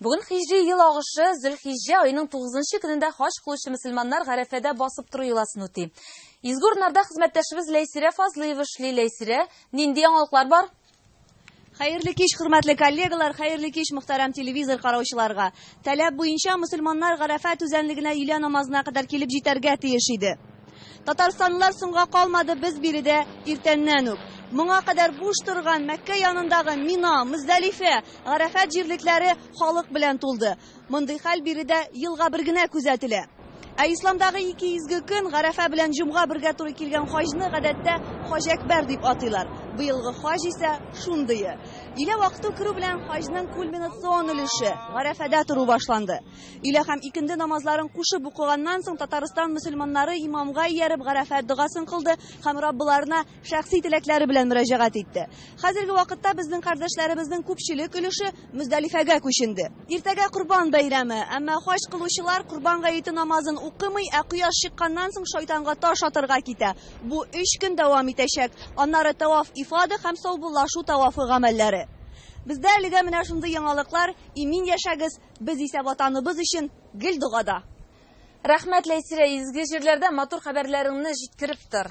Бүген хиҗри ел агышы Зөлхиҗҗә аеның тугызынчы көнендә хаҗ кылучы мөселманнар Гарәфәдә басып тору йоласын үти. Изге урыннарда хезмәттәшебез Ләйсирә Фазлыева эшли. Ләйсирә, нинди яңалыклар бар? Хәерле кич, хөрмәтле коллегалар, хәерле кич, мөхтәрәм телевизор караучыларга. Таләп буенча, мөселманнар Гарәфә түзәнлегенә өйлә намазына кадәр килеп җитәргә тиеш иде. Татарстанлылар соңга калмады, без биредә иртәннән үк. Моңа кадәр буш торган Мәккә янындагы Мина, Мөздәлифә, Гарәфәт җирлекләре халык белән тулды. Мондый хәл биредә елга бер генә күзәтелә. Ә исламдагы ике изге көн, Гарәфә белән Җомга бергә туры килгән хаҗны гадәттә Хаҗ Әкбәр дип атыйлар. Быелгы хаҗ исә шундые. Илә вакыту керү белән хаҗның кульминационн өлеше, Гарәфәдә тору башланды. Өйлә һәм икенде намазларын кушып укыганнан соң, Татарстан мөселманнары имамга ияреп Гарәфәт догасын кылды һәм Раббыларына шәхси теләкләре белән мөрәҗәгать итте. Хәзерге вакытта безнең кардәшләребезнең күпчелек өлеше Мөздәлифәгә күченде. Иртәгә Корбан бәйрәме, әмма хаҗ кылучылар Корбан гаете намазын укымый, ә кояш чыкканнан соң шайтанга таш атырга китә. Бу өч көн дәвам итәчәк. Аннары Тәваф-Ифада һәм саубуллашу тавафы гамәлләре. Бездә әлегә менә шундый яңалыклар, имин яшәгез! Без исә Ватаныбыз өчен гел догада. Рәхмәт Ләйсирә, изге җирләрдән матур хәбәрләреңне җиткереп тор.